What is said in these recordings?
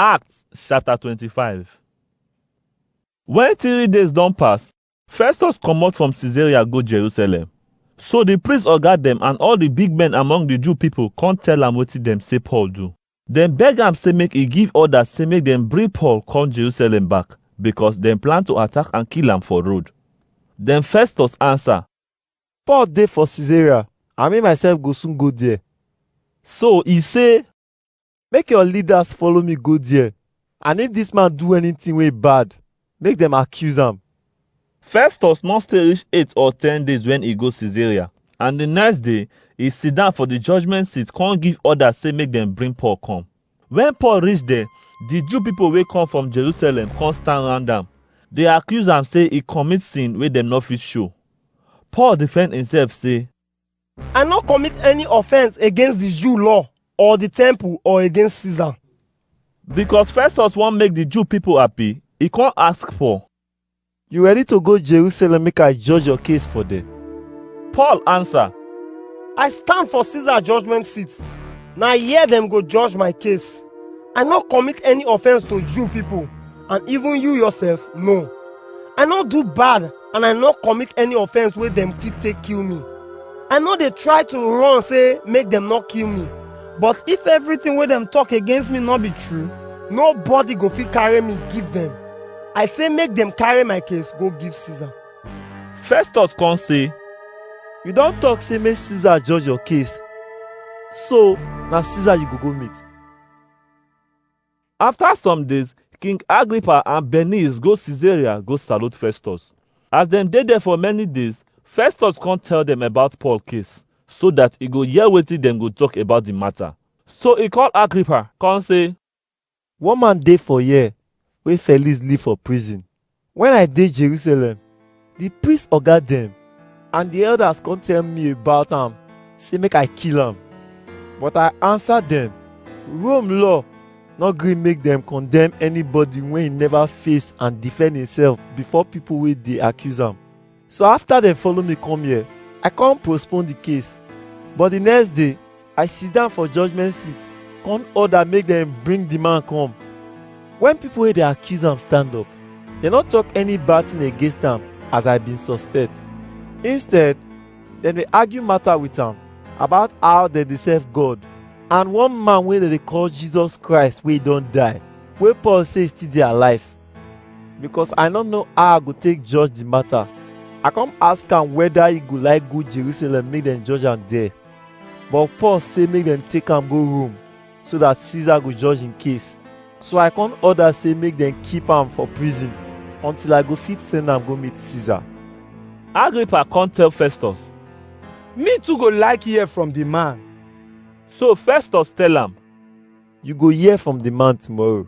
Acts chapter 25 When three days don pass, Festus comot from Caesarea go Jerusalem. So the priest oga dem and all the big men among the Jew people come tell am wetin dem say Paul do. Dem beg am say make e give order say make dem bring Paul come Jerusalem back because dem plan to attack and kill am for road. Then Festus answer, Paul dey for Caesarea, and me myself go soon go there. so e say, Make your leaders follow me go there. And if this man do anything wey bad, make them accuse am. Festus no stay reach eight or ten days when e go Caesarea, and the next day e sit down for the judgment seat come give order say make dem bring Paul come. When Paul reach there, the Jew people wey come from Jerusalem come stand round am. They accuse am say e commit sin wey dem no fit show. Paul defend himself say, I no commit any offense against the Jew law or the temple or against Caesar. Because Festus wan make the Jew people happy, he come ask for. You ready to go Jerusalem make I judge your case for there? Paul answer, I stand for Caesar judgment seat. Na here dem go judge my case. I no commit any offense to Jew people and even you yourself no. I no do bad and I no commit any offense wey dem fit take kill me. I no dey try to run say make dem no kill me. But if everything wey dem talk against me no be true, nobody go fit carry me give dem. I say make dem carry my case go give Caesar. Festus come say, You don talk say make Caesar judge your case, so na Caesar you go go meet. After some days, King Agrippa and Bernice go Caesarea go salute Festus. As dem dey there for many days, Festus come tell dem about Paul case, so that e go hear wetin dem go talk about the matter. So e call Agrippa, come say, One man dey for here wey Felix leave for prison, Wen I dey Jerusalem, di priest oga dem and di elders come tell me about am sey make I kill am. But I ansa dem, Rome law no gree make dem condemn anybody wey neva face and defend imsef before pipu wey dey accuse am. So after dem follow me come here, I come postpone the case. But the next day, I sit down for judgment seat, come order make dem bring the man come. When people wey dey accuse am stand up, dem no talk any bad thing against am as I bin suspect. Instead, dem dey argue matter with am about how dem dey serve God. And one man wey dem dey call Jesus Christ wey don die, wey Paul say still dey alive, because I no know how I go take judge the matter. I come ask am whether he go like go Jerusalem make dem judge am there. But Paul say make dem take am go Rome so that Caesar go judge him case. So I come order say make dem keep am for prison until I go fit send am go meet Caesar. Agrippa come tell Festus. Me too go like hear from the man. So Festus tell am, You go hear from the man tomorrow.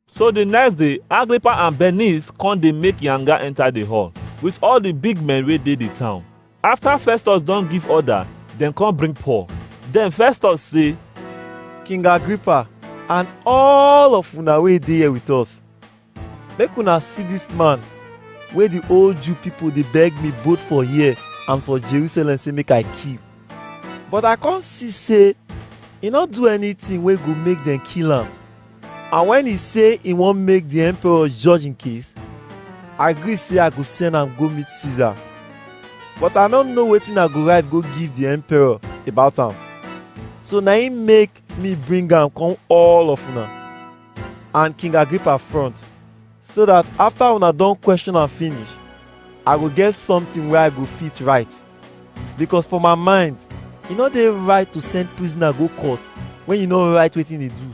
So the next day, Agrippa and Bernice come dey make yanga enter the hall with all the big men wey dey the town. After Festus don give order, dem come bring Paul. Then Festus say, King Agrippa and all of una wey dey here with us, make una see this man wey the old Jew people dey beg me both for here and for Jerusalem say make I kill. But I come see say e no do anything wey go make dem kill am. And when e say e wan make the emperor judge im case, I gree say I go send am go meet Caesar. But I no know wetin I go write go give the emperor about am. So na im make me bring am come all of una and King Agrippa front. so that after una don question am finish i go get something wey i go fit write because for my mind e no dey right to send prisoner go court when you no write wetin e do